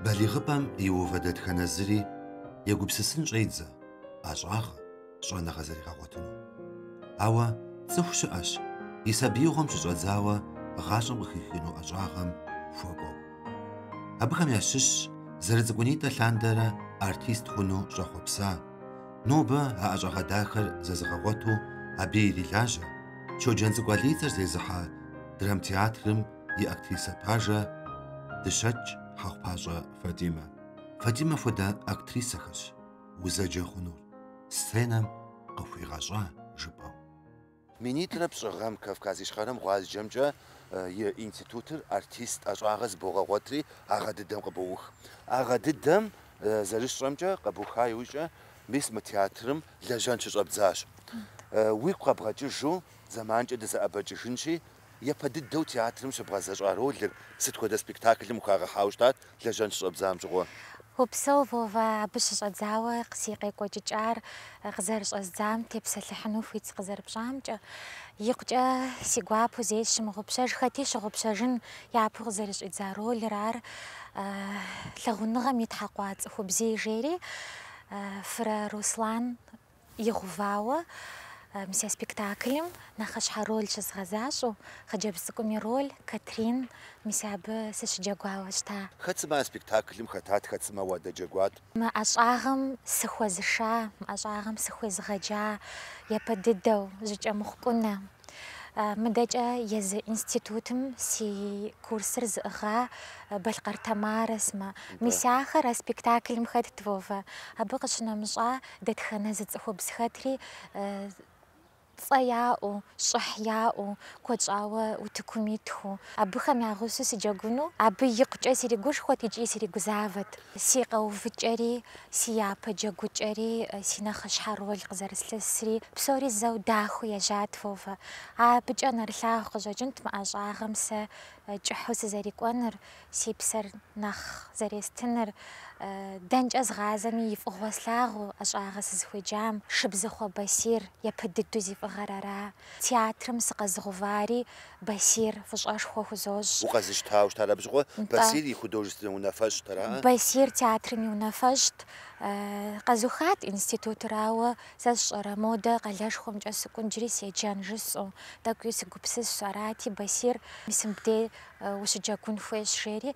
Балигъыпӏэм иувэ дэтхэнэ зыри егупсысын щӏедзэ ӏэщӏагъэ, щӏэныгъэ зэригъэгъуэтыну. Ауэ цӏыху щыӏэщ и сабиигъуэм щыщӏэдзауэ гъащӏэм къыхихыну ӏэщӏагъэм хуэкӏуэу. Абыхэм ящыщщ зэрыцӏыкӏунитӏэ лъандэрэ артист хъуну щӏэхъуэпса. Нобэ а ӏэщӏагъэ дахэр зэзыгъэгъуэту абы ирилажьэ Щоджэнцӏыкӏу Алий и цӏэр зезыхьэ драмтеатрым и актрисэ пажэ Дыщэкӏ Хьэхъупащӏэ Фатимэ. Фатимэ хуэдэ актрисэхэщ узэджэ хъунур сценэм къыхуигъэщӏа жыпӏэу. Минитӏрэ пщӏы гъэм Кавказ Ищхъэрэм гъуазджэмкӏэ и институтыр артист ӏэщӏагъэ зыбогъэгъуэтри а гъэ дыдэм къыбоух. А гъэ дыдэм зэрысщӏэмкӏэ, къэбуха иужькӏэ, мис мы театрым лэжьэн щыщӏэбдзащ. Уигу къэбгъэкӏыжу зэманкӏэ дызэӏэбэкӏыжынщи, Япэ дыдэу театрым щыбгъэзэщӏа ролыр сыт хуэдэ спектаклым ухагъэхьауэ щытат лэжьэн щыщӏэбдзам щыгъуэ? Упсэу, Вовэ, абы щыщӏэдзауэ си къекӏуэкӏыкӏар къызэрыщӏэздзам тепсэлъыхьыну хуит сыкъызэрыпщӏамкӏэ. Икъукӏэ си гуапэу зэи сщымыгъупщэж, хэти щыгъупщэжын япэу къызэрыщӏидза ролыр ар, лъагъуныгъэм итхьэкъуа цӏыхубзий жери, Фырэ Руслан. Игъэувауэ, мис а спектаклым нэхъыщхьэ роль щызгъэзащӏэу, хъыджэбз цӏыкӏум и роль, Катрин, мис абы сыщыджэгуауэ щыта. Хэт сымэ а спектаклым хэтат, хэт сымэ уадэджэгуат? Мы ӏэщӏагъэм сыхуэзыша, мы ӏэщӏагъэм сыхуезыгъэджа япэ дыдэу, Жьакӏэмыхъу Кӏунэ, Мыдэкӏэ езы институтым си курсыр зыӏыгъа Балъкъэр Тамарэ сымэ. Мис ахэр а спектаклым хэтт, Вовэ. Абы къыщынэмыщӏа дэтхэнэ зы цӏыхубз хэтри цӏэ яӏэу, щӏыхь яӏэу, куэд щӏауэ утыкум итхэу. Абыхэм я гъусэу сыджэгуну абы икъукӏэ сиригушхуэт икӏи сиригузавэт. Си къэувыкӏэри Си япэ джэгукӏэри, си нэхъыщхьэ роль къызэрыслъысри, псори зэу дахэу ежьат, Вовэ. Абыкӏэ нэрылъагъу къыщӏэкӏынт мы ӏэщӏагъэм сэ кӏыхьу сызэрикӏуэныр, си псэр нэхъ зэрестыныр. Дэнкӏэ згъазэми и фӏыгъуэ слъагъуу ӏэщӏагъэ сызыхуеджам, Шыбзыхъуэ Басир, япэ дыдэу зи фӏыгъэр ара. Театрым сыкъэзыгъэувари Басир фӏыщӏэшхуэ хузощӏ. Укъэзыщтауэ щытар абы щыгъуэ Басир и художественнэ унафэщӏт ара? Басир театрым и унафэщӏт. Къэзухат институтыр, ауэ сэ сщӏэрэ, модэ къалэшхуэмкӏэ сыкӏуэн иджыри седжэн жысӏэу. Тӏэкӏуи сыгупсысщ. Арати, Басир, мис мыбдей ущыджэгун хуейщ, жери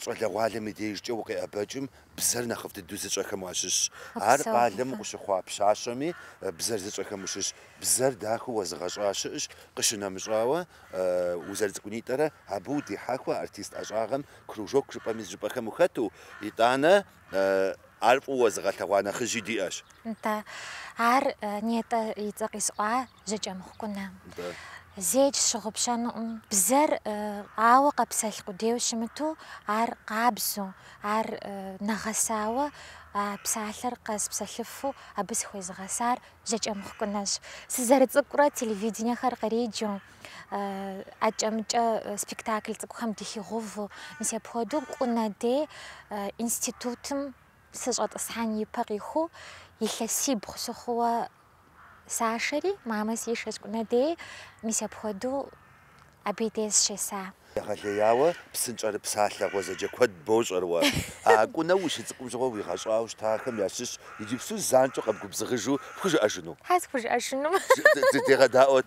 Щӏалэгъуалэм и дежкӏэ укъеӏэбэкӏым бзэр нэхъыфӏ дыдэу зыщӏэхэм уащыщщ. Ар къалэм укъыщыхъуа пщащэми, бзэр зыщӏэхэм ущыщ. Бзэр дахэу уэзыгъэщӏа щыӏэщ, къыщынэмыщӏауэ, узэрыцӏыкӏунитӏэрэ абы удихьэхуэ артист ӏэщӏагъэм кружок жыпӏэми зыщӏыпӏэхэм ухэту, итӏанэ Ар фӏыуэ уэзыгъэлъэгъуа нэхъыжьи диӏэщ. Нтӏэ, ар нетӏэ и цӏэ къисӏуа Жьакӏэмыхъу Кӏунэ. Нтӏэ. Зэикӏ сщыгъупщэнукъым. Бзэр ауэ къэпсэлъ къудейуэ щымыту, ар къабзу, ар нэгъэсауэ, а псалъэр къэспсэлъыфу абы сыхуезыгъэсар Жьакӏэмыхъу Кӏунэщ. Сызэрыцӏыкӏурэ телевиденэхэр къриджу. акӏэ-мыкӏэ спектакль цӏыкӏухэм дыхигъэувэу, мис апхуэдэу Кӏунэ дей институтым сыщӏэтӏысхьэн ипэ къиху илъэсибгъу сыхъууэ сашэри, мамэ сишэщ Кӏунэ дей, мис апхуэдэу абы дей сыщеса. Егъэлеяуэ псынщӏэрыпсалъэ гъуэзэджэ куэд бощӏэр уэ. А Кӏунэ ущыцӏыкӏум щыгъуэ уигъэщӏауэ щытахэм ящыщ иджыпсту занщӏэу къэбгубзыгъыжу пхужыӏэжыну? Хьэ, схужыӏэжыну. Дыдегъэдаӏуэт.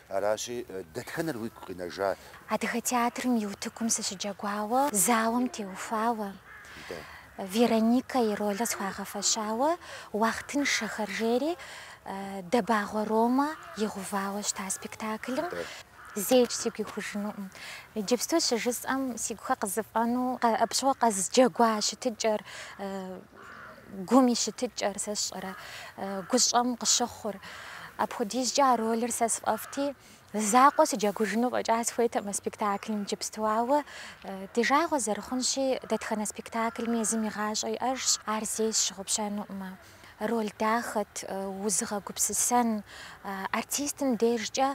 Аращи, дэтхэнэр уигу къинэжа? Адыгэ театрым и утыкум сыщыджэгуауэ, зауэм теухуауэ, Вероникэ и ролыр схуагъэфэщауэ, Уахътыншэхэр жери Дэбагъуэ Ромэ игъувауэ щыта спектаклым. Зэикӏ сигу ихужынукъым. Иджыпсту щыжысӏэм, си гухэр къызэфӏэну, абы щыгъуэ къэзджэгуа щытыкӏэр. Гум и щытыкӏэр сэ сщӏэрэ гущӏэм къыщыхъур? Апхуэдизкӏэ а ролыр сэ сфӏэфӏти, закъуэ сыджэгужыну фӏэкӏа сыхуейтэкъымэ спектаклым иджыпсту. Ауэ ди жагъуэ зэрыхъунщи, дэтхэнэ спектаклми езым и гъащӏэ иӏэжщ, ар зэи сщыгъупщэнукъымэ. Роль дахэт, узыгъэгупсысэн, артистым дежкӏэ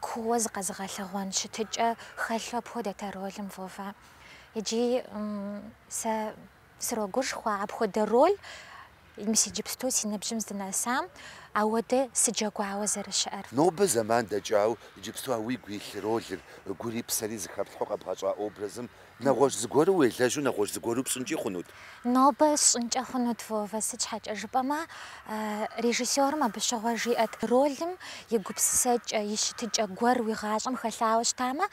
кууэ зыкъэзыгъэлъэгъуэн щытыкӏэ хэлъу апхуэдэт а ролым, Вовэ. Иджы сэ Срогушхуэ апхуэдэ роль мис иджыпсту си ныбжьым здынэсам, ауэдэ сыджэгуауэ зэрыщыӏэр. Нобэ зэман дэкӏауэ иджыпсту а уигу илъ ролыр, гури псэри зыхэплъхьу къэбгъэщӏа образым, нэгъуэщӏ зыгуэру уелэжьу нэгъуэщӏ зыгуэру пщӏынкӏи хъунут? Нобэ сщӏынкӏэ хъунут, Вовэ, сыт щхьэкӏэ жыпӏэмэ, режиссёрым абы щыгъуэ жиӏэт, ролым и гупсысэкӏэ, и щытыкӏэ гуэр уи гъащӏэм хэлъауэ щытамэ,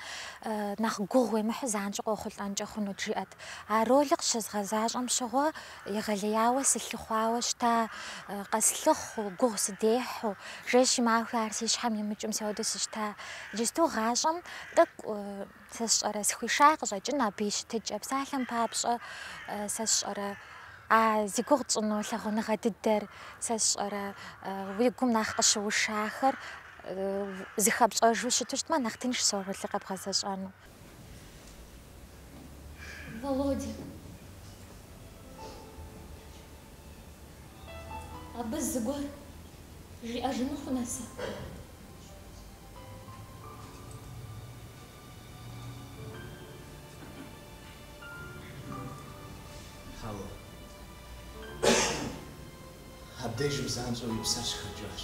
нэхъ гугъу уемыхьу занщӏэу къохъулӏэнкӏэ хъунут, жиӏэт. А ролыр къыщызгъэзащӏэм щыгъуэ егъэлеяуэ сылъыхъуауэ щыта, къэслъыхъу, гугъу сыдехьу, жэщи махуи ар си щхьэм имыкӏыу мис ауэду сыщыта. Иджысту гъащӏэм тӏэкӏу сэ сщӏэрэ, сыхуиша къыщӏэкӏын абы и щытыкӏэ, псалъэм папщӏэ сэ сщӏэрэ, а зи гугъу тщӏыну лъагъуныгъэ дыдэр сэ сщӏэрэ, уи гум нэхъ къыщыушахэр зыхэпщӏэжу щыту щытмэ, нэхъ тыншщ а ролыр къэбгъэзэщӏэну. Володя. Абы зыгуэр жиӏэжыну хунэса? Хьэуэ. Абдежым занщӏэу и псэр щыхэкӏащ.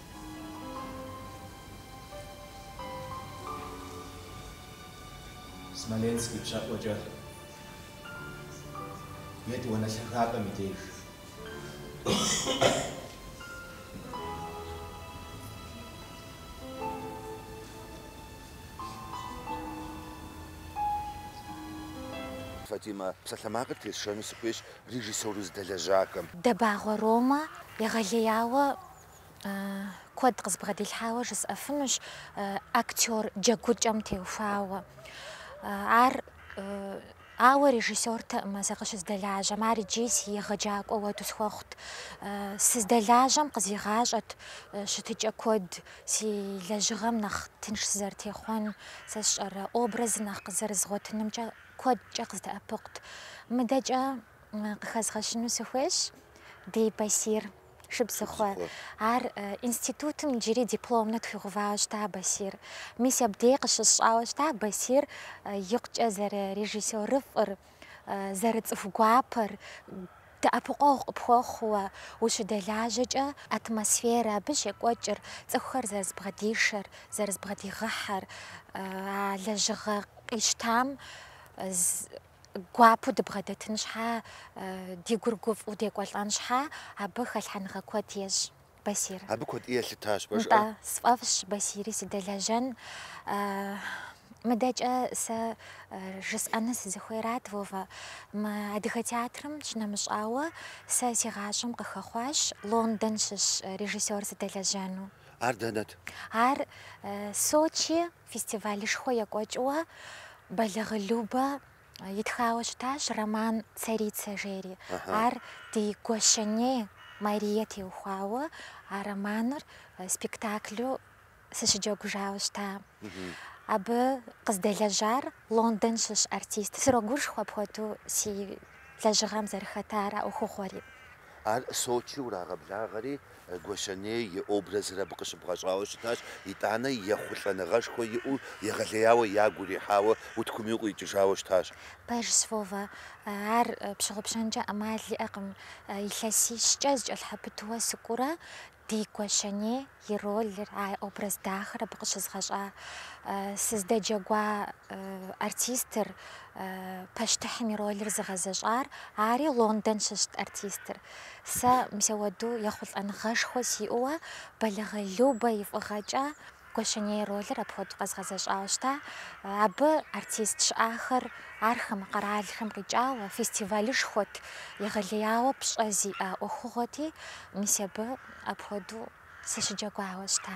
Смоленск ипщэӏуэкӏэ етӏуанэ лъагапӏэм и деж. Фатимэ, псалъэмакъыр тесшэну сыхуейщ режиссёр уздэлэжьахэм. Дэбагъуэ Ромэ егъэлеяуэ Куэд къызбгъэдилъхьауэ жысӏэфынущ актер джэгукӏэм теухуауэ. Ар, ауэ режиссёртэӏым сэ къыщыздэлажьэм, ар иджи си егъэджакӏуэ уэду схуэхъут. Сыздэлажьэм къызигъащӏэт щытыкӏэ куэд, си лэжьыгъэм нэхъ тынш сызэрытехъуэн, сэ сщӏэрэ образыр нэхъ къызэрызгъуэтынымкӏэ куэдкӏэ къыздэӏэпыкъут. Мыдэкӏэ къыхэзгъэщыну сыхуейщ ди Басир. Шыбзыхъуэ. Ар институтым иджыри дипломнэ тхуигъэувауэ щыта Басир. Мис абдей къыщысщӏауэ щыта Басир икъукӏэ зэрырежиссерыфӏыр, зэрыцӏыху гуапэр, дэӏэпыкъуэгъу къыпхуэхъууэ, ущыдэлажьэкӏэ атмосферэ, абы щекӏуэкӏыр, цӏыхухэр зэрызэбгъэдишэр, зэрызэбгъэдигъэхьэр, а лэжьыгъэ къищтам гуапэу дыбгъэдэтын щхьа, ди гур гуфӏэу декӏуэлӏэн щхьа, абы хэлъхьэныгъэ куэд ещӏ Басир. Абы куэд ӏей елъытащ, уэ жыӏэ? Нтӏэ, сфӏэфӏщ, Басири, сыдэлэжьэн. Мыдэкӏэ сэ жысӏэну сызыхуейрат, Вовэ. Мы Адыгэ театрым щынэмыщӏауэ, сэ си гъащӏэм къыхэхъуащ Лондон щыщ режиссёр сыдэлэжьэну. Ар дэнэт? Ар Сочи Фестивалышхуэ екӏуэкӏыуэ Бэлагъы Любэ итхауэ щытащ роман Царица жери. Ар ди Гуащэней Марие теухуауэ а романыр спектаклу сыщыджэгужауэ щыта. Абы къыздэлэжьар Лондон щыщ артист. Срогушхуэ апхуэду си лэжьыгъэм зэрыхэтар а ӏуэхугъуэри. Ар Сочи урагъэблагъэри, Гуащэней и образыр абы къыщыбгъэщӏауэ щытащ, итӏанэ ехъулӏэныгъэшхуэ иӏэу, егъэлеяуэ, ягу ирихьауэ, утыкуми укъикӏыжауэ щытащ. Пэжщ, Вовэ. Ар пщыгъупщэнкӏэ ӏэмал иӏэкъым. Илъэсищкӏэ зэкӏэлъхьэпыту сыкӏуурэ, Ди Гуащэней и ролыр, а образ дахэр абы къыщызгъэщӏа сыздэджэгуа артистыр, пащтыхьым и ролыр зыгъэзэщӏар, ари Лондон щыщт артистыр. Сэ мисауэду ехъулӏэныгъэшхуэ сиӏэуэ Бэлагъы Любэ и фӏыгъэкӏэ Гуащэней ролыр апхуэдэу къэзгъэзэщӏауэ щыта. Абы артист щыӏахэр архэм, къэралхэм къикӏауэ, фестивалышхуэт, егъэлеяуэ пщӏэ зиӏэ ӏуэхугъуэти, мис абы апхуэдэу сыщыджэгуауэ щыта.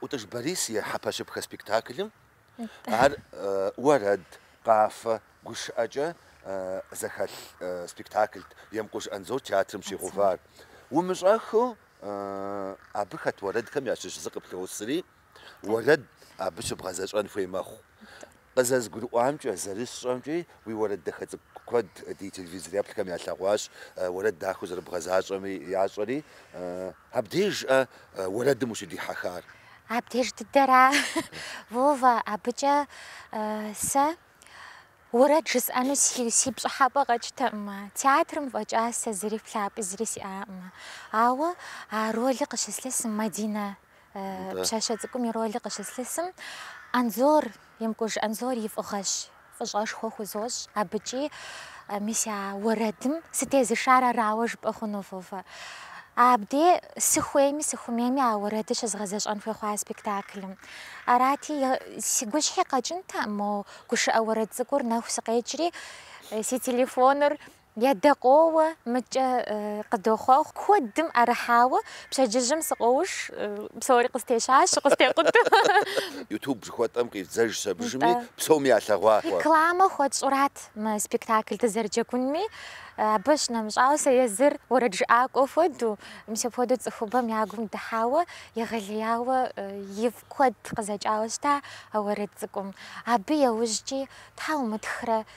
Ӏутӏыж Борис и Хьэпэщыпхэ спектаклым ар уэрэд, къафэ, гушыӏэкӏэ зэхэлъ спектаклт Емкъуж Анзор театрым щигъэувар. Умыщӏэххыу абы хэт уэрэдхэм ящыщ зы къыплъосри, уэрэд абы щыбгъэзэщӏэн хуей мэхъу. Къызэзгурыӏуамкӏэ, зэрысщӏэмкӏи, уи уэрэд дахэ цӏыкӏу куэд ди телевизор еплъхэм ялъэгъуащ, уэрэд дахэу зэрыбгъэзащӏэми ящӏэри. Абдежкъэ уэрэдым ущыдихьэхар? Абдеж дыдэра, Вова, абыкӏэ сэ уэрэд жысӏэну си пщӏыхьэпӏэ къэкӏтэкъымэ, театрым фӏэкӏа сэ зыри плъапӏи зыри сиӏакъымэ. Ауэ а роли къыщыслъысым Мадинэ Пщащэ цӏыкӏум и роли къыщыслъысым Анзор, Емкъуж Анзор и фӏыгъэщ, фӏыщӏэшхуэ хузощӏ абыкӏи. Мис а уэрэдым сытезышар арауэ жыпӏэ хъуну, Вова. Абдей сыхуейми, сыхумейми а уэрэдыр щызгъэзэщӏэн хуей хъуа спектаклым. Арати, си гущхьи къэкӏынтэкъым мо гушыӏэ уэрэд цӏыкӏур нэху сыкъекӏри, си телефоныр Адэ къоуэ, мыкӏэ къыдохъуэхъу. Куэдым ӏэрыхьауэ пщэдджыжьым сыкъоуш, псори къыстещащ, къыстекъуту. Ютуб жыхуэтӏэм къидзэжщ, абдежми, псоми ялъэгъуа. Рекламэ хуэтщӏурат мы спектакль дызэрыджэгунми, абы щынэмыщӏауэ, сэ езыр уэрэджыӏакӏуэ хуэдэу, мис апхуэдэу цӏыхубэм я гум дыхьауэ, егъэлеяуэ ифӏ куэд къызэкӏауэ щыта а уэрэд цӏыкӏум. Абы яужькӏи, тхьэ умытхрэ,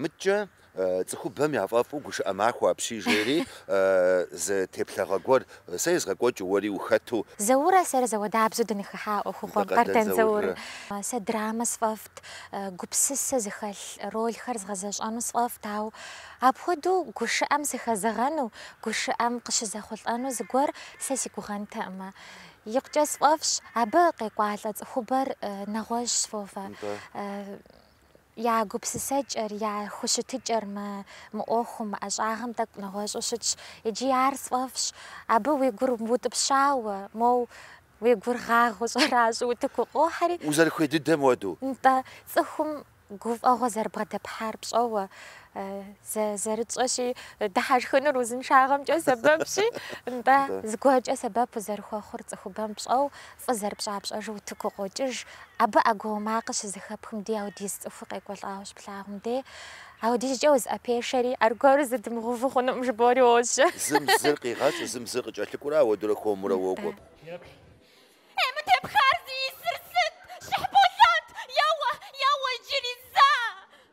Мыдкӏэ цӏыхубэм яфӏэфӏу гушыӏэ махуэ апщий жери зы теплъэгъуэ гуэр сэ езгъэкӏуэкӏыу уэри ухэту. Зауррэ сэрэ зэуэдабзэу дыныхыхьа ӏуэхугъуэм, Къардэн Заур. Сэ драмэ сфӏэфӏт, гупсысэ зыхэлъ ролхэр згъэзэщӏэну сфӏэфӏт, ауэ апхуэдэу гушыӏэм сыхэзэгъэну, гушыӏэм къыщызэхъулӏэну зыгуэр сэ си гугъэнтэкъымэ. Икъукӏэ сфӏэфӏщ, абы къекӏуалӏэ цӏыхубэр нэгъуэщӏщ, Вова. Я гупсысэкӏэр, я хущытыкӏэр мы мы ӏуэхум, мы ӏэщӏагъэм тӏэкӏу нэгъуэщӏу щытщ, иджы ар сфӏэфӏщ. Абы уи гур утӏыпщауэ, моу уи гур гъагъэу щӏэращӏэу утыку укъохьэри. Узэрыхуей дыдэм хуэдэу. Нтӏэ, цӏыхум гуфӏэгъуэ зэрыбгъэдэпхьар пщӏэуэ, зэ зэрытщӏэщи, дыхьэшхынур узыншагъэмкӏэ сэбэпщи, нтӏэ, зыгуэркӏэ сэбэп узэрыхуэхъур цӏыхубэм пщӏэу, Фӏы зэрыпщӏа пщӏэжу утыку укъокӏыж. Абы ӏэгуауэ макъыр щызэхэпхым дей апхуэдиз цӏыху къекӏуэлӏауэ щыплъагъум дей. Апхуэдизкӏэ узыӏэпешэри, аргуэру зы дымыгъэуву хъунукъым жыбоӏэри уожьэ. Зым зыр къигъэщӏу, зым зыр къыкӏэлъыкӏуурэ ауэдурэ хуэмурэ уокӏуэ. Еплъ. Е, мы тепхар зищӏысыр сыт? Щыхьбосант! Еуэ, еуэ иджыри, зэ!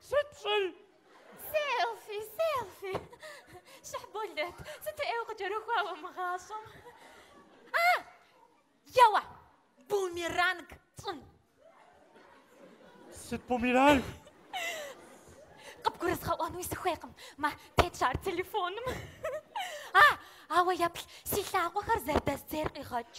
Сыт пщӏэр? Селфи, селфи! Щыхьболэт, сыту ӏейуэ укъыкӏэрыхуа уэ мы гъащӏэм! А! Еуэ! Бумеранг тщӏын! Сыт бумеранг? Къыбгурызгъэӏуэнуи сыхуейкъым, мэ тетщ ар телефоным. А! Ауэ еплъ, си лъакъуэхэр зэрыдэздзейр къигъэкӏ.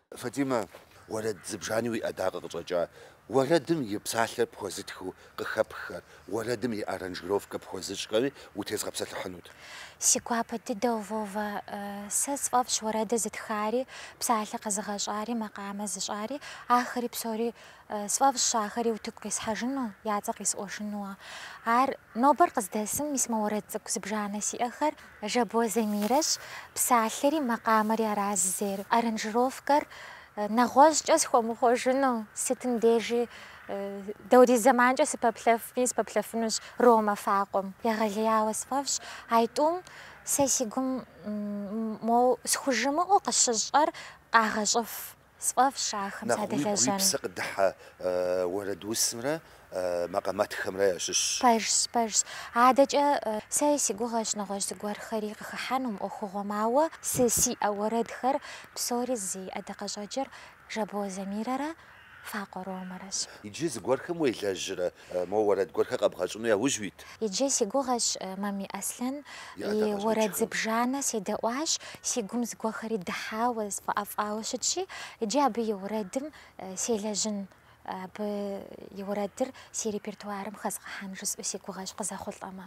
Фатимэ, уэрэд зыбжани уи ӏэдакъэ къыщӏэкӏа? Уэрэдым и псалъэр пхуэзытхыу къыхэпххэр, уэрэдым и аранжировкэ пхуэзыщӏхэри утезгъэпсэлъыхьынут. Си гуапэ дыдэу, Вова, сэ сфӏэфӏщ уэрэдыр зытхари, псалъэ къэзыгъэщӏари, макъамэ зыщӏари, ахэри псори. Сфӏэфӏщ ахэри утыку къисхьэжыну, я цӏэ къисӏуэжынууэ. Ар нобэр къыздэсым, мис мо уэрэд цӏыкӏу зыбжанэ сиӏэхэр Жабо Замирэщ псалъэри макъамэри аращ зейр. Аранжировкэр нэгъуэщӏкӏэ схуэмыхъуэжыну, сытым дежи дапхуэдиз зэманкӏэ сыпэплъэфми, сыпэплъэфынущ Ромэ Факъуэм. Егъэлеяуэ сфӏэфӏщ а тӏум сэ си гум моу схужымыӏэу къыщыщӏэр къагъэщӏыф. Сфӏэфӏщ ахэм садэлэжьэну. Нэхъ уигу уи псэ къыдыхьэ уэрэд усымрэ макъамэтхэмрэ ящыщщ. Пэжщ, пэжщ. Адэкӏэ сэри си гугъэщ нэгъуэщӏ зыгуэрхэри къыхыхьэну мы ӏуэхугъуэм, ауэ сэ сиӏэ уэрэдхэр псори зи ӏэдакъэщӏэкӏыр Жабоэ Замирэрэ Факъуэ Ромэрэщ. Иджы зыгуэрхэм уелэжьрэ Моуэ уэрэд гуэрхэр къэбгъэщӏыну яужь уит. Иджы си гугъэщ, Мамий Аслъэн, и уэрэд зыбжанэ седэӏуащ, си гум зыгуэрхэри дыхьауэ, сфӏэӏэфӏауэ щытщи, иджы абы и уэрэдым селэжьын, абы и уэрэдыр си репертуарым хэзгъэхьэн жысӏэу си гугъэщ, къызэхъулӏэмэ.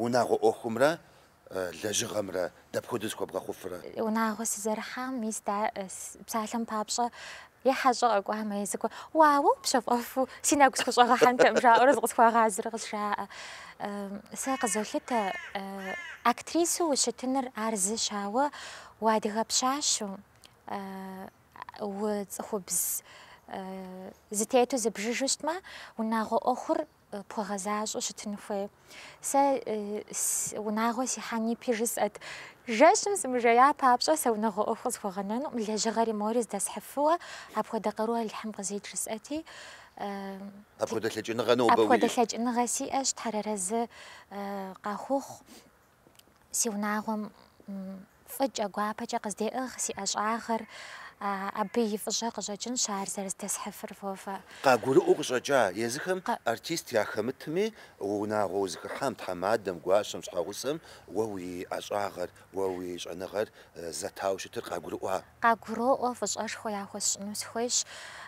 Унагъуэ ӏуэхумрэ лэжьыгъэмрэ дапхуэдэу зэхуэбгъэхъуфрэ? Унагъуэ сызэрыхьам, мис дэ псалъэм папщӏэ е хьэщӏэ къэкӏуамэ, е зыгуэр, уа, уэ упщэфӏэфу си нэгу схущӏэгъэхьэнтэкъым жаӏэурэ зыкъысхуагъазэрэ къызжаӏэ. Сэ къызолъытэ актрисэу ущытыныр ар зыщ, ауэ уадыгэ пщащэу, Уцӏыхубз зэтету зыббжыжу щытмэ, унагъуэ ӏуэхур пхуэгъэзащӏэу щытын хуей. Сэ унагъуэ сихьэн ипи жысӏэт, жэщым сымыжея папщӏэ сэ унагъуэ ӏуэху къысхуэгъэнэнукъым, лэжьыгъэри мори здэсхьыфыуэ, апхуэдэ къару Алыхьым къызит жысӏэти. Апхуэдэ лъэкӏыныгъэ нобэ уиӏэщ? Апхуэдэ лъэкӏыныгъэ сиӏэщ, Тхьэр арэзы къахухъу. Си унагъуэм фӏыкӏэ, гуапэкӏэ къыздеӏыгъ си ӏэщӏагъэр, абы и фӏыщӏэ къыщӏэкӏынщ ар зэрыздэсхьыфыр, Вовэ. Къагурыӏуэу къыщӏэкӏа езыхэм артист яхэмытми, уэ унагъуэ узыхыхьам, тхьэмадэм, гуащэм, щхьэгъусэм уэ уи ӏэщӏагъэр, уэ уи щӏэныгъэр зэтауэ щытыр къагурыӏуа? Къагуроӏуэ, фӏыщӏэшхуэ яхуэсщӏыну схуейщ.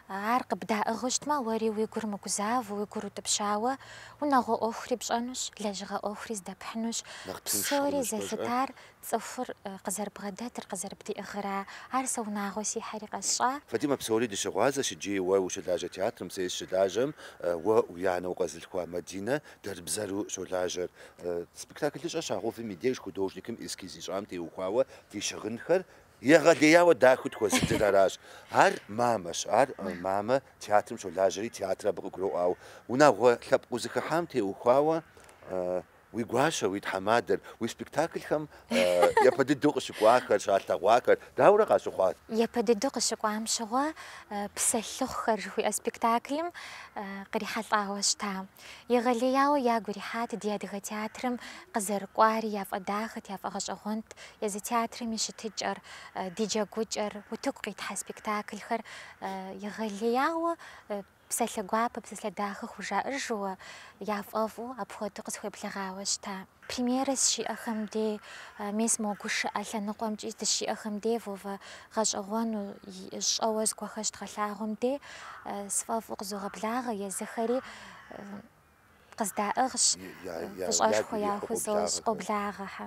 Ар къыбдаӏыгъыу щытмэ, уэри уи гур мыгузавэу, уи гур утӏыпщауэ, унагъуэ ӏуэхури пщӏэнущ, лэжьыгъэ ӏуэхури здэпхьынущ. Нэхъ тынш Псори хъунущ пэжкъэ? зэлъытар цӏыхур къызэрыбгъэдэтыр, къызэрыбдиӏыгъыра. Ар сэ унагъуэ сихьэри къэсщӏа. Фатимэ, псори дыщыгъуазэщ иджы уэ ущылажьэ театрым, сэ сыщылажьэм, уэ уи анэ укъэзылъхуа Мадинэ дэрбзэру щолажьэр. Спектаклыщӏэ щагъэувым и деж художникым эскиз ищӏам теухуауэ ди щыгъынхэр Егъэлеяуэ дахэу тхуэзыдыр аращ. Ар мамэщ. Ар мамэ театрым щолажьэри, театр абы къыгуроӏуэ, ауэ унагъуэ лъэпкъ узыхыхьам теухуауэ уи гуащэ, уи тхьэмадэр, уи спектаклхэм япэ дыдэу къыщыкӏуахэр, щалъэгъуахэр дауэрэ къащыхъуат? Япэ дыдэу къыщыкӏуам щыгъуэ Псэлъыхъухэр жыхуиӏэ спектаклым кърихьэлӏауэ щыта. Егъэлеяуэ ягу ирихьат ди адыгэ театрым къызэрыкӏуари, яфӏэдахэт, яфӏэгъэщӏэгъуэнт езы театрым и щытыкӏэр, ди джэгукӏэр, утыку къитхьэ спектаклхэр. Егъэлеяуэ псалъэ гуапэ, псалъэ дахэ хужаӏыжууэ, яфӏэфӏу апхуэдэу къысхуеблэгъауэ щыта. Премьерэ сыщиӏэхэм дей мес мо гушыӏэ лъэныкъуэмкӏи дыщиӏэхэм дей Вовэ гъэщӏэгъуэну щӏэуэ зыгуэхэр щыдгъэлъагъуэм дей сфӏэфӏу къызогъэблагъэ езыхэри къыздаӏыгъщ, фӏыщӏэшхуэ яхузощӏ, къоблагъэхэ.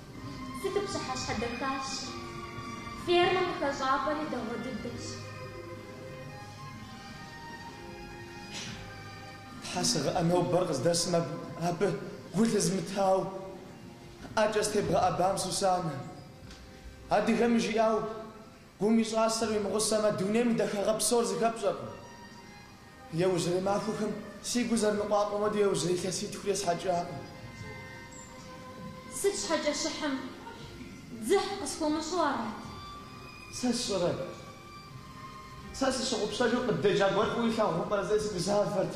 Сыту пщыхьэщхьэ дахэщ! Фермэм къыхэщӏапӏэри дэгъуэ дыдэщ. Тхьэ сыгъэӏэ нобэр къыздэсым абы гу лъызмытау, ӏэкӏэ сытебгъэӏэбам Сусанэ. Адыгэм жиӏау, Гум и щӏасэр уимыгъусэмэ, дунейм и дахагъэ псор зыхэпщӏэркъым. Иужьрей махуэхэм си гур зэрыныкъуакъуэм хуэдэу иужьрей илъэситхур есхьэкӏакъым. Сыт щхьэкӏэ Щыхьым дзыхь къысхуэмыщӏу арат? Сэ сщӏэрэ? Сэ сыщыгъупщэжу къыддеджа гуэр фӏыуэ илъагъуу пӏэрэ? Зэи сыгузавэрт.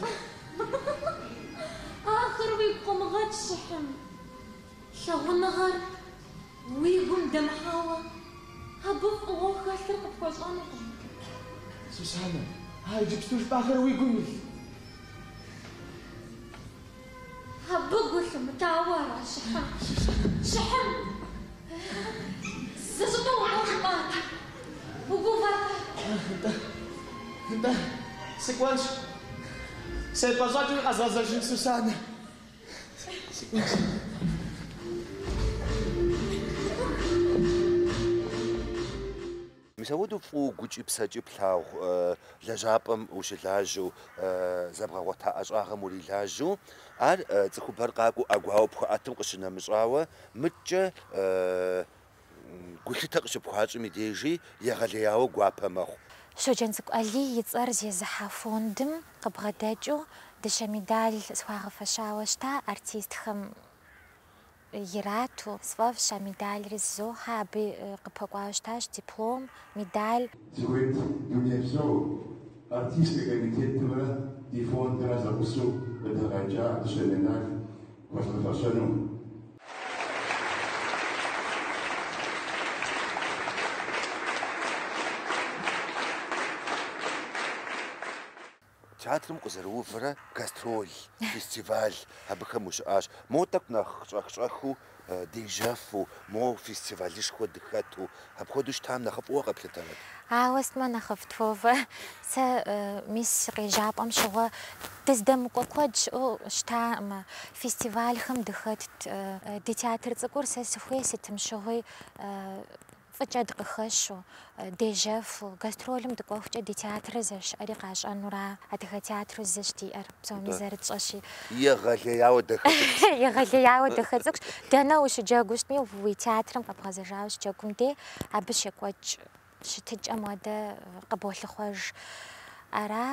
Ахэр уигу къомыгъэкӏ, Щыхьым. Лъагъуныгъэр уи гум дэмыхьауэ, абы фӏыгъуэ хэлъыр къыпхуэщӏэнукъым. Сусанэ, а иджыпсту жыпӏахэр уи гум илъ? Абы гу лъумытауэ ара, Щыхьым? Щыхьым? Зы щӏыпӏэ укӏуэу жыпӏат. Угувэркъэ? Нтӏэ, нтӏэ, сыкӏуэнщ. Сепӏэщӏэкӏынщ къэзгъэзэжын, Сусанэ. Мис апхуэдэу фӏыуэ гукӏи псэкӏи плъагъу лэжьапӏэм ущылажьэу, зэбгъэгъуэта ӏэщӏагъэм урилажьэу, ар цӏыхубэр къакӏуэу ӏэгуауэ пхуаӏэтым къыщынэмыщӏауэ, мыдкӏэ Гулъытэ къыщыпхуащӏым и дежи егъэлеяуэ гуапэ мэхъу. Щоджэнцӏыкӏу Алий и цӏэр зезыхьэ фондым къыбгъэдэкӏыу дыщэ медаль схуагъэфэщауэ щыта артистхэм ирату. Сфӏэфӏщ а медальри зызохьэ. Абы къыпэкӏуауэ щытащ диплом, медаль. Сыхуейт дунейпсо Артийскэ комитетымрэ ди фондымрэ зэгъусэу къыдэгъэкӏа дыщэ медаль. хуэзгъэфэщэну. Театрым укъызэрыувэрэ гастроль, фестиваль абыхэм ущыӏащ. Моуэ тӏэкӏу нэхъ щӏэх-щӏэхыу, дежьэфу, моуэ фестивалышхуэ дыхэту, Апхуэдэу щытам нэхъыфӏыуэ къэплъытэнут. Ауэ сытмэ нэхъыфӏт, Вовэ. Сэ мис си къежьапӏэм щыгъуэ дыздэмыкӏуэ куэд щыӏэу щытакъымэ. Фестивальхэм дыхэтт. Ди театр цӏыкӏур сэ сыхуей сытым щыгъуи фӏыкӏэ дыкъыхэщу, дежьэфу, гастролым дыкӏуэхукӏэ ди театрыр зэрыщыӏэри къащӏэнура. Адыгэ театру зыщ диӏэр. Псоми зэрытщӏэщи. Егъэлеяуэ дахэ цӏыкӏущ. Егъэлеяуэ дахэ цӏыкӏущ. Дэнэ ущыджэгуу щытми, уи театрым къэбгъэзэжауэ щыджэгум дей, абы щекӏуэкӏ щытыкӏэм хуэдэ къыболъыхъуэж. Ара,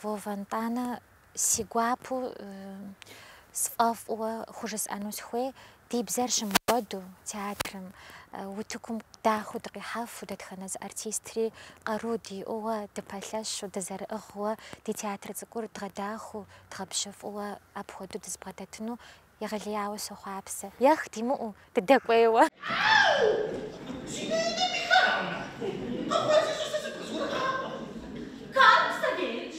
Вова нтӏанэ, си гуапэу сфӏэфӏыуэ хужысӏэну сыхуей, Ди бзэр щымыкӏуэду театрым, утыкум дахэу дыкъихьэфу дэтхэнэ зы артистри къару диӏэуэ, дыпэлъэщу, дызэрыӏыгъыуэ, ди театр цӏыкӏур дгъэдахэу, дгъэбжьыфӏыуэ апхуэдэу дызбгъэдэтыну егъэлеяуэ сохъуапсэ. Ех, димыӏэу дыдэкӏуейуэ! Ау! Си нанэ Михайлэ! Къыхуэзыщӏэсэ сыпызгурыӏакъым. Карл Савельич,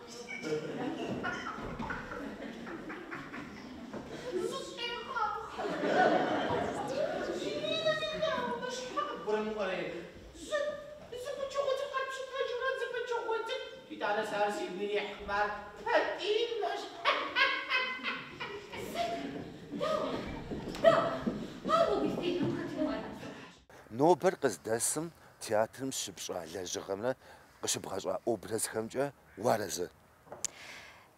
Нобэр къыздэсым театрым щыпщӏа лэжьыгъэмрэ къыщыбгъэщӏа образхэмкӏэ уарэзы?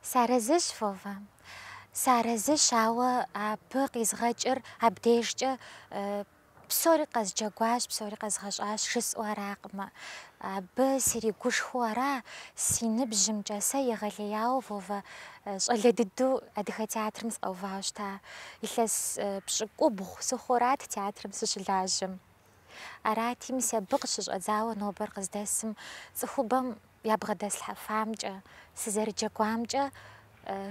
Сарэзыщ, Вова. Сарэзыщ, ауэ абы къизгъэкӏыр абдейжкӏэ псори къэзджэгуащ, псори къэзгъэщӏащ жысӏэу аракъымэ. Абы сригушхуэу ара си ныбжьымкӏэ сэ егъэлеяуэ, Вова, щӏалэ дыдэу адыгэ театрым сыкъэувауэ щыта. Илъэс пщӏыкӏубгъу сыхъуурат театрым сыщылажьэм. Арати, мис абы къыщыщӏэдзауэ нобэр къыздэсым цӏыхубэм ябгъэдэслъхьэфамкӏэ, сызэрыджэгуамкӏэ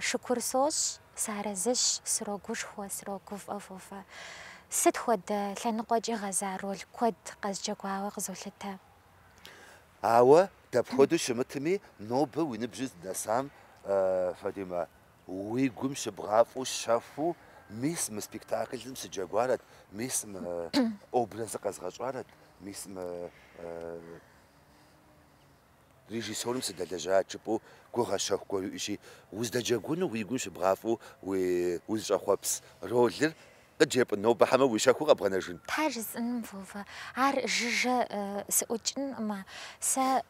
шыкур сощӏ, сарэзыщ, срогушхуэ, срогуфӏэ Вова. Сыт хуэдэ лъэныкъуэкӏи гъэза роль куэд къэзджэгуауэ къызолъытэ. Ауэ дапхуэдэу щымытми, нобэ уи ныбжьыр здэсам, Фатимэ, Уи гум щыбгъафӏэу щэхуу, мис мы спектаклым сыджэгуарэт, мис мы образыр къэзгъэщӏарэт, мис мы режиссерым сыдэлэжьарэт жыпӏэу гугъэ щэху гуэр уиӏэщи, уздэджэгуну уи гум щыбгъафӏэу узыщӏэхъуэпс ролыр Къыджепӏэн нобэ хьэмэ уи щэхуу къэбгъэнэжын? Тхьэ жысӏэным Вова, ар жыжьэ сыӏукӏынкъымэ, сэ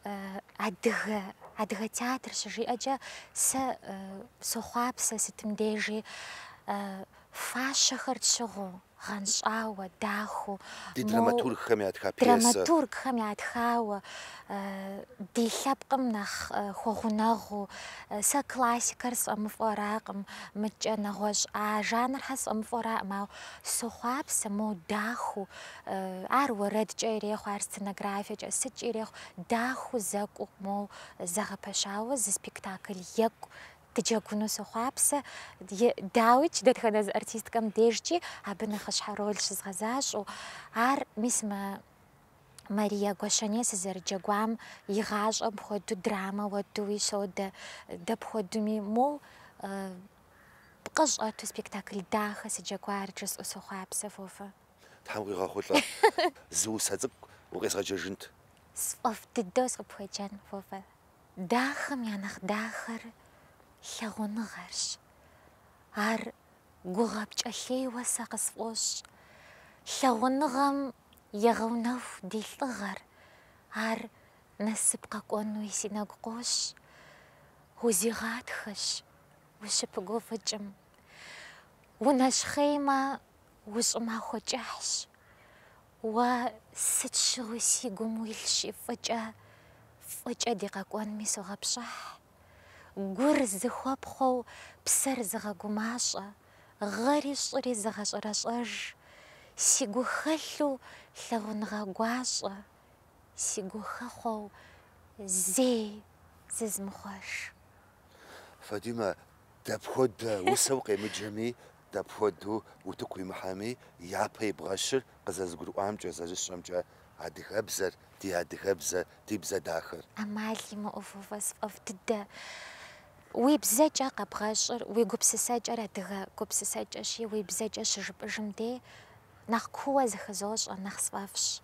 адыгэ, адыгэ театр щыжиӏэкӏэ сэ сохъуапсэ сытым дежи, фащэхэр тщыгъыу, гъэнщӏауэ, дахэу. Ди драматургхэм ятха пьесэ. Драматургхэм ятхауэ Ди лъэпкъым нэхъ хуэгъунэгъуу, сэ классикэр сфӏэмыфӏуэракъым, мыдкӏэ нэгъуэщӏ а жанрхэр сфӏэмыфӏуэракъым, ауэ сохъуапсэ моу дахэу, ар уэрэдкӏэ ирехъу, ар сценографиякӏэ, сыткӏи ирехъу, дахэу зэкӏуу моу зэгъэпэщауэ зы спектакль екӏу дыджэгуну сохъуапсэ. Дауикӏ, дэтхэнэ зы артисткэм дежкӏи абы нэхъыщхьэ роль щызгъэзащӏэу. Ар, мис мы Мария Гуащэней сызэрыджэгуам и гъащӏэм хуэдэу драмэ уэдуи содэ, дапхуэдуми, моуэ пкъы щӏэту спектакль дахэ сыджэгуар, жысӏэу сохъуапсэ, Вовэ. Тхьэм къигъэхъулӏэ. Зы усэ цӏыкӏу укъезгъэджэжынт. Сфӏэфӏ дыдэу сыкъыпхуеджэн, Вовэ. Дахэм я нэхъ дахэр лъагъуныгъэрщ. Ар гугъэ пкӏэлъейуэ сэ къысфӏощӏ. Лъагъуныгъэм Егъэунэху ди лӏыгъэр, ар насып къэкӏуэнуи си нэгу къощ, узигъатхэщ ущыпыгуфӏыкӏым. Унэщхъеймэ, ущӏымахуэ кӏыхьщ. Уэ сыт щыгъуи си гум уилъщи фӏыкӏэ, фӏыкӏэ ди къэкӏуэнми согъэпщӏыхь. Гур зыхуэпхъуэу псэр зыгъэгумащӏэ, гъэри щӏыри зыгъэщӏэрэщӏэж, си гу хэлъу лъагъуныгъэ гуащӏэ, си гу хэхъуэу зэи зызмыхъуэж. Фадимэ, дапхуэдэ усэу укъемыджэми, Дапхуэдэу утыку уимыхьэми, япэ ибгъэщыр къызэзыгурыӏуамкӏэ зэрысщӏэмкӏэ, адыгэбзэр, ди адыгэбзэ, ди бзэ дахэр. ӏэмал имыӏэу, Вовэ, сфӏэфӏ дыдэ, уи бзэкӏэ къэбгъэщӏыр, уи гупсысэкӏэр адыгэ гупсысэкӏэщи, уи бзэкӏэ щыжыпӏыжым дей, нэхъ куууэ зыхызощӏэ, нэхъ сфӏэфӏщ.